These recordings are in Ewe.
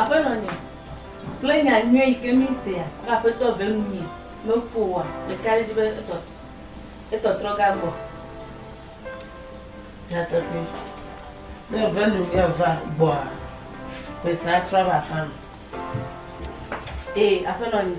Aƒenɔ nye, kple nya nyuie yi ke mísea be Aƒetɔ ve nu mí meku oa, ɖeka ɖe edzi be etɔ, etɔtrɔ ga gbɔ. Nyateƒee, ne eve nu mí eva gbɔa, ƒe sia atrɔ ava aƒea me. Ee, Aƒenɔ nye.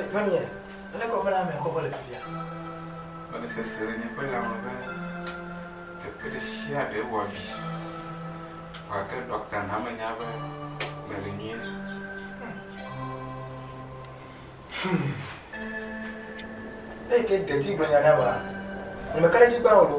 Eƒemea, ale kɔƒe la me kɔkɔ le fifia. Mele sese le nye ƒe lãme be teƒe ɖe sia ɖe wɔ abi. Vɔ gake ɖɔkta na menya be mele nyuie. Hmm. Eyi ke ɖe dzi gblɔ nya ɖa ba, ŋmeka ɖe dzi gbã o ɖo.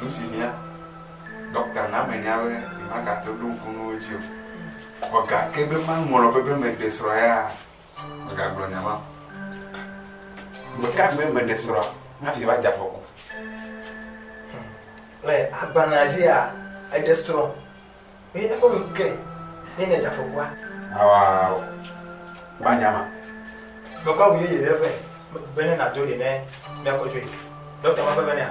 Nu si hiã, ɖɔkta na menya be nyemagate ɖo ŋku nuwo dzi o. Vɔ gake be maŋlɔ be be meɖe srɔ̃ ya, megagblɔ nya ma. Ɖeka gbe meɖe srɔ̃ hafi va dze afɔku. Le agbalẽa dzia, eɖe srɔ̃. Eye eƒe ŋu ke ye ne dzafɔkua. Awa gbanyama. Mekɔ awu yeye ɖe ƒe be ne nado ɖe ne miakɔ tsoe. Dɔkta ma ƒe be nea.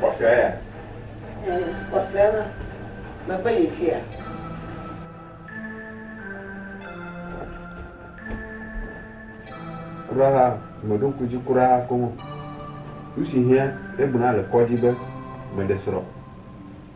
Xɔsea ya. Xɔsea la, mekpe yi tsia. Kura ha, meɖo ŋku dzi kura ha koŋ o. Nu si hiã ɖe gblɔna le kɔdzi be meɖe srɔ̃.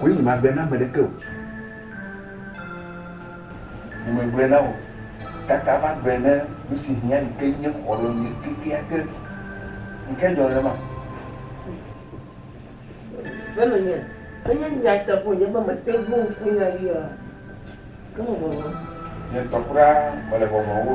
Wòe nye magblɔe na ame ɖeke o. Nye megblɔe na wò. Kaka magblɔe ne nusi hiã yi ke nye xɔlɔ̃nye kekeake. Nu kae dzɔ nenema? Be menye menye nyateƒe o nye be mete ŋu ŋku nya yia ke me vɔvɔ̃. Nye ŋutɔ kura mele vɔvɔ̃m o.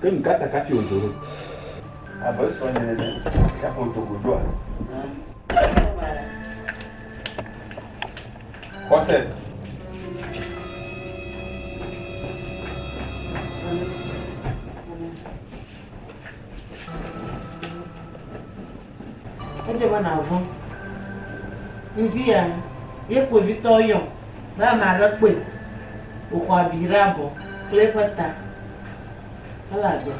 Ke nu ka ta kafi wòdo ɖo abe srɔ̃nye nene ya ƒo do godoa? Xɔse. Edze be nàvɔ̃. Ŋdia ye kpovitɔwo yɔ be ame aɖe kpɔe wòxɔ abi ɖe abɔ kple eƒe ta hele agbe.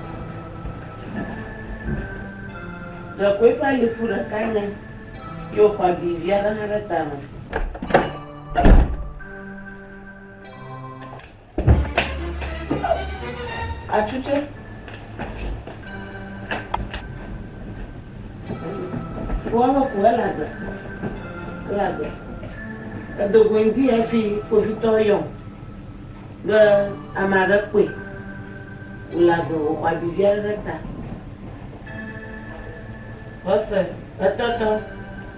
Ɖekoe eƒe alifu ɖeka nya ye wòxɔ abi vi aɖe hã ɖe tame. Atsu tsɛ. Woa me ku ele agbe. Ele agbe. Edo goe ŋdi hafi kpovitɔ yɔ be ame aɖe kpɔe wòle agbe wòxɔ abi vi aɖe ɖe ta. Xɔse etɔtɔ.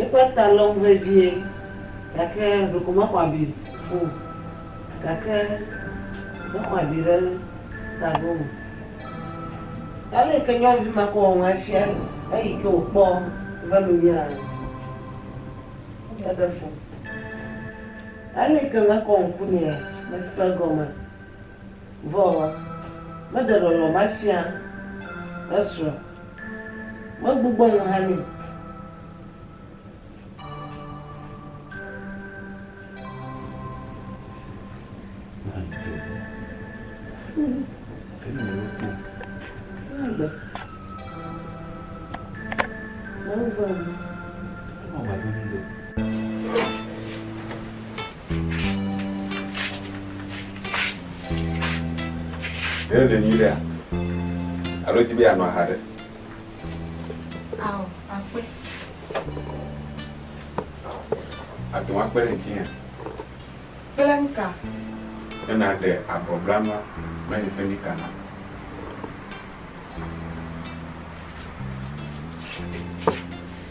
Eƒe ta lɔm vevie, gake ɖeko mexɔ abi fu o, gake mexɔ abi ɖe ta ɖo o. Ale yi ke nyɔnuvi ma kɔ wɔm afia eyi ke wòkpɔ eƒe nunyaa, eɖe fu. Ale yi ke mekɔ ŋku nɛ mese egɔme. Vɔ meɖe lɔlɔ̃ va fia esrɔ̃, megbugbɔ nu hã nɛ. Ɖe èle nyuiɖea? Alo èdi be yeanɔ aha ɖe? Ao, akpe. Àte ŋu akpe ɖe ŋutinye? Kple nu ka? Ne nàɖe abɔblanua kple nye ƒemika nam.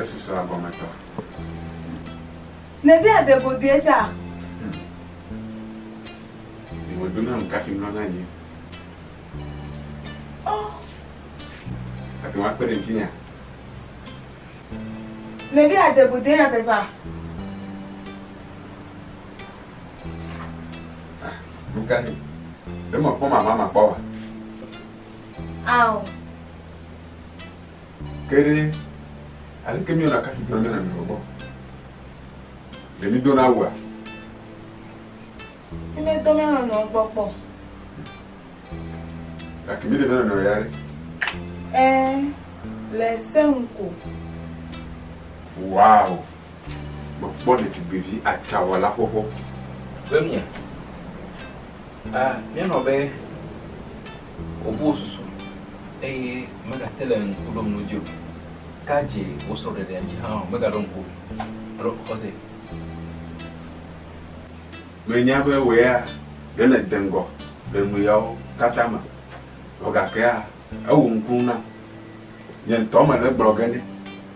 Esusua gɔme tɔ. Nèdi aɖe go dee tsa? Medo na nu kafi mlɔ na nyi. Ɔ, Ate ŋu akpe ɖe ŋutinya. nèdi aɖe go dee nyateƒea? Nu kae? Ɖe mekpɔ mama makpɔ oa? Ao. Ke ɖe, aleke míewɔna kafi dona míana nɔnɔewo gbɔ? Ɖe mídona wua? Mímedo mía nɔnɔewo gbɔ kpɔ o. Gake míeɖe mía nɔnɔewo ya ɖe? Ɛ̃, le se ŋu ko. Wow! Mekpɔ ɖetugbivi atsawala xoxo. Be mía, a, míanɔ be wòbu wò susu eye megate le ŋku ɖom nu dzi o. Ka dzi wò srɔ̃ɖeɖea dzi hã o, megaɖo ŋku o alo xɔsee. Menya be wò ya ɖe nède ŋgɔ le nuyawo katã me, vɔ gakea, ewu ŋku nam. Nye ŋutɔ mele egblɔ ge nɛ.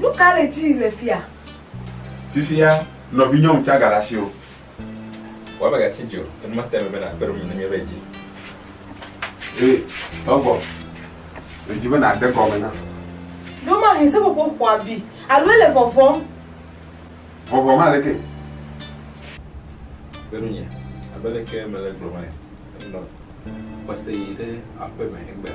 Nu ka le edzi le fia? Fifia, nɔvinyɔ ŋtsã gale asiwò. Wɔ abe gatsi dzi o, enu ma te eme be nàkpe ɖe ŋu ne míeva edzi. Ɛ, trɔ gbɔ. Medzi be nàde gɔme nam. Ɖo mahĩ seƒoƒo ƒo abi, alo ele vɔvɔm. Vɔvɔm aleke? Kpe ɖe ŋunye, abe leke mele egblɔm ene. Enɔ xɔse yi ɖe aƒeme egbea.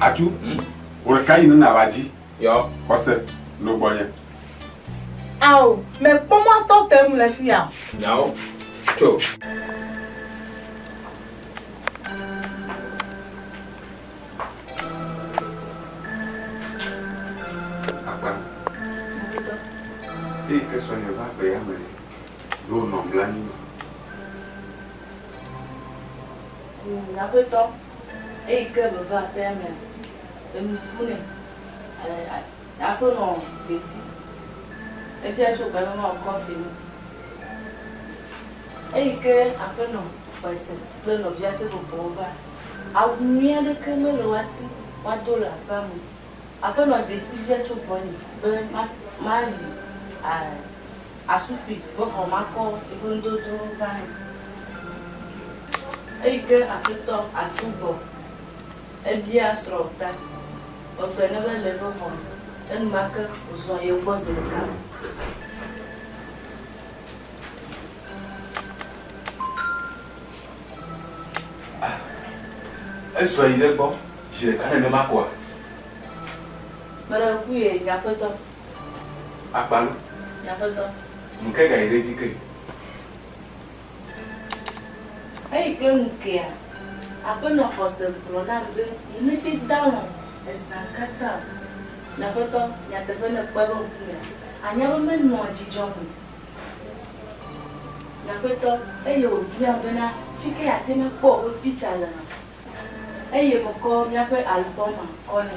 Atu. Hmm. Wòle ka yi nena la dzi. Yɔ. Xɔse, no gbɔnye. Ao, mekpɔ mɔ atɔ te ŋu le fi ya o. Nyawo. Tso. eyi ke me va aƒea mea, enu ƒu nɛ. Aƒenɔ dedzi. Edze tso gbe mema wòkɔ afi ni. Eyi ke aƒenɔ xɔse kple nɔvia seƒoƒowo va, awu nyui aɖeke mele woa si woado le aƒea me o. Aƒenɔ dedzi bia tso gbɔnye be mayi asukpui be xɔ makɔ yeƒe nudodowo gã nɛ. Eyi ke Aƒetɔ atso gbɔ ebia srɔ̃ ta megbe ne be le eƒe xɔ me. Enumake wòzɔ yi egbɔ zi ɖeka. Ah, ezɔ yi ɖe egbɔ zi ɖeka nenema koa? Meɖe ŋku ye, nye aƒetɔ. Akpalo. Nye aƒetɔ. Nuke gayi ɖe edzi ke? Eyi ke ŋu kea, Aƒenɔ Xɔse gblɔ nam be nyemete dalɔ̃ ezã katã o. Nye aƒetɔ, nyateƒe ne ekpe eƒe ŋkumea, anya be menɔa dzidzɔ me. Nye aƒetɔ, eye wòbiam bena fike yeate ŋu akpɔ woƒe piktsa lea? Eye mekɔ míaƒe albɔma kɔ nɛ.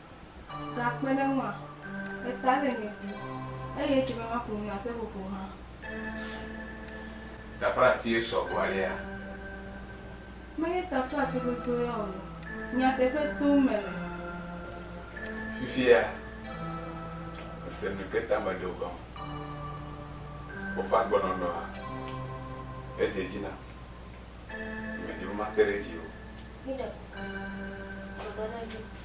Gakpe ɖe eŋua, eta le nye du, eye etse be maƒo nu na seƒoƒo hã. Taflatie sɔ gbɔ alea? Menye taflatsi ɖoɖo ya o, nyateƒe tom mele. Fifia, mese nu ke ta meɖo gɔme. Woƒe agbenɔnɔa, edze dzi nam. Nyemedi be mate ɖe edzi o.